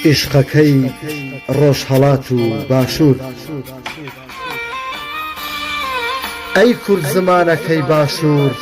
عیشقەکەی ڕۆژهەڵات و باشوور ئەی کورد زمانەکەی باشوور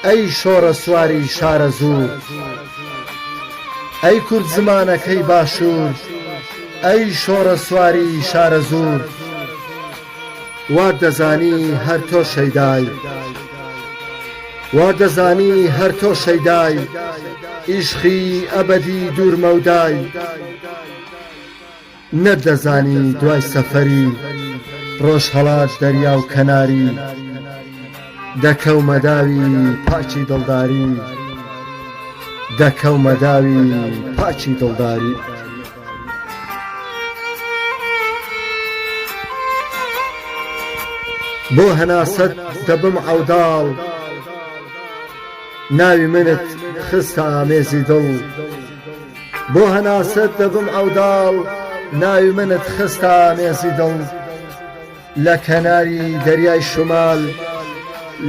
ئەی شۆڕەسواری شارەزوور ئەی کورد زمانەکەی باشوور ئەی شۆڕەسواری شارەزوور وا دەزانی هەر تۆ شەیدای وا دەزانی هەر تۆ شەیدای ئیشقی ئەبەدی دوور مەودای نەت دەزانی دوای سەفەری ڕۆژهەڵات دەریا و کەناری دەکەومە داوی پاکی دڵداری دەکەومە داوی پاکی دڵداری. بۆ هەناسەت دەبم عەوداڵ ناوی منت خستە ئامێزی دڵ لە کەناری دەریای شمال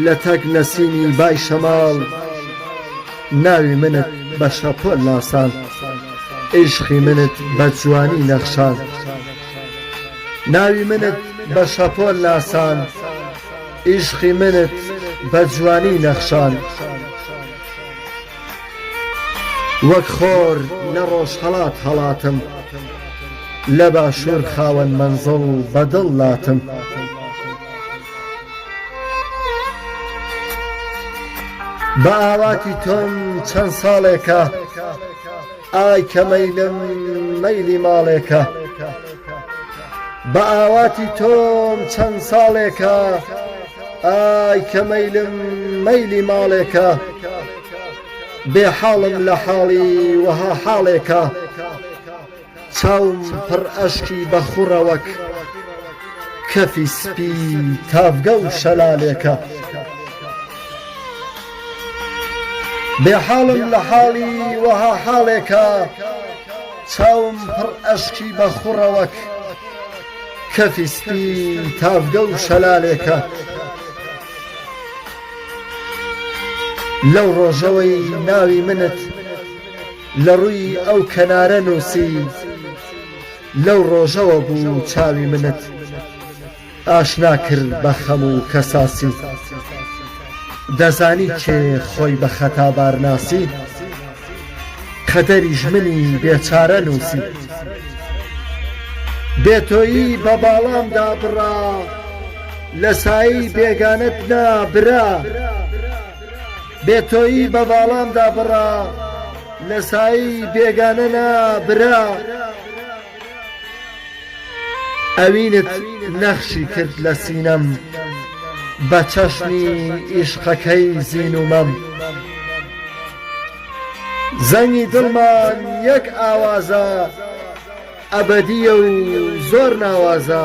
لە تەک نەسیمی بای شەماڵ ناوی منت بە شەپۆل ناساند عیشقی منت بە جوانی نەخشاند ناوی منت بە شەپۆل ناساند عیشقی منت بە جوانی نەخشاند وەک خۆر لە ڕۆژهەڵات هەڵاتم لە باشوور خاوەن مەنزڵ بە دڵ لاتم بە ئاواتی تۆم چەند ساڵێکە ئای کە مەیلم مەیلی ماڵێکە بە ئاواتی تۆم چەند ساڵێکە ئای کە مەیلم مەیلی ماڵێکە بێ حاڵم لە حاڵی وەها حاڵێکە چاوم پڕ ئەشکی بە خوڕەوەک کەفی سپی تاڤگە و شەلالێکە. بێ حاڵم لە حاڵی وەها حاڵێکا چاوم پڕ ئەشکی بە خوڕە وەک کەفی سپی تاڤگە و شەلالێکە لەو ڕۆژەوەی ناوی منت لە ڕووی ئەو کەنارە نووسی لەو ڕۆژەوە بوو چاوی منت ئاشنا کرد بە خەم و کەساسی دەزانی کێ خۆی بە خەتا بار ناسی قەدەری ژمنی بێچارە نووسی بێ تۆیی بە باڵام دا بڕا لە سایی بێگانەت نا برا بێ تۆیی بە باڵام دا بڕا لە سایی بێگانە نا برا ئەوینت نەخشی کرد لە سینەم بە چەشنی ئیشقەکەی زین و مەم زەنگی دڵمان یەک ئاوازە ئەبەدییە و زۆر ناوازە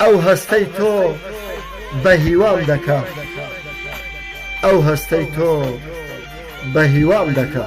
ئەو هەستەی تۆ بە هیوام دەکا ئەو هەستەی تۆ بە هیوام دەکا.